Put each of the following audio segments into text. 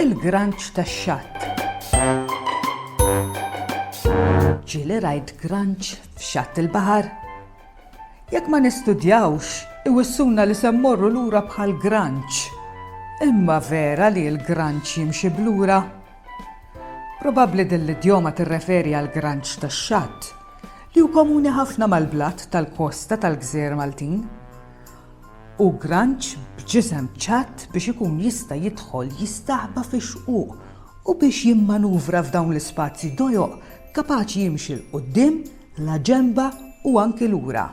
Il-granċ tax-xatt. Ġieli rajt granċ f'xatt il-baħar. Jekk ma nistudjawx, iwissuna li se mmorru lura bħall-granċ. Imma vera li l-granċ jimxi b'lura? Probabbli din l-idjoma tirreferi għall-granċ tax-xatt, li hu komuni ħafna mal-blat tal-kosta tal-gżejjer Maltin. Hu granċ b'ġisem ċatt biex ikun jista' jidħol jistaħba fix-xquq u biex jimmanuvra f'dawn l-ispazji dojoq kapaċi jimxi 'l quddiem, la ġenba u anki lura.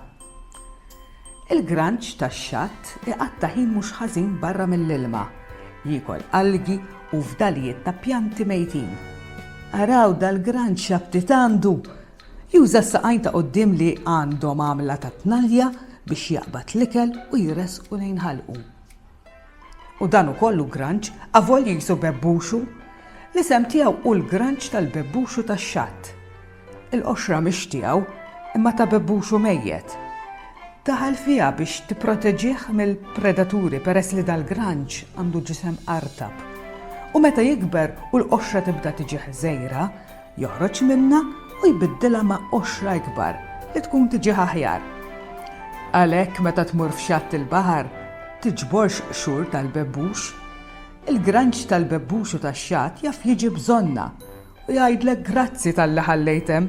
Il-granċ tax-xatt iqatta' ħin mhux ħażin barra mill-ilma, jiekol algi u fdalijiet ta' pjanti mejtin. Araw dal-granċ x'aptit għandu! Juża s-saqajn ta' quddiem li għandhom għamla ta' tnalja biex jaqbad l-ikel u jressqu lejn ħalqu. U dan ukoll hu granċ, avolja qisu bebbuxu. L-isem tiegħu hu l-granċ tal-bebbuxu tax-xatt. Il-qoxra mhix tiegħu, imma ta' bebbuxu mejjet. Daħal fiha biex tipproteġih mill-predaturi peress li dal-granċ għandu ġisem artab. U meta jikber u l-qoxra tibda tiġi ħżejra, joħroġ minnha u jbiddilha ma' qoxra ikbar li tkun tiġih aħjar. Għalhekk meta tmur f'xatt il-baħar, tiġborx qxur tal-bebbux. Il-granġ tal-bebbux u tax-xatt jaf jiġi bżonnha u jgħidlek grazzi talli ħallejt hemm.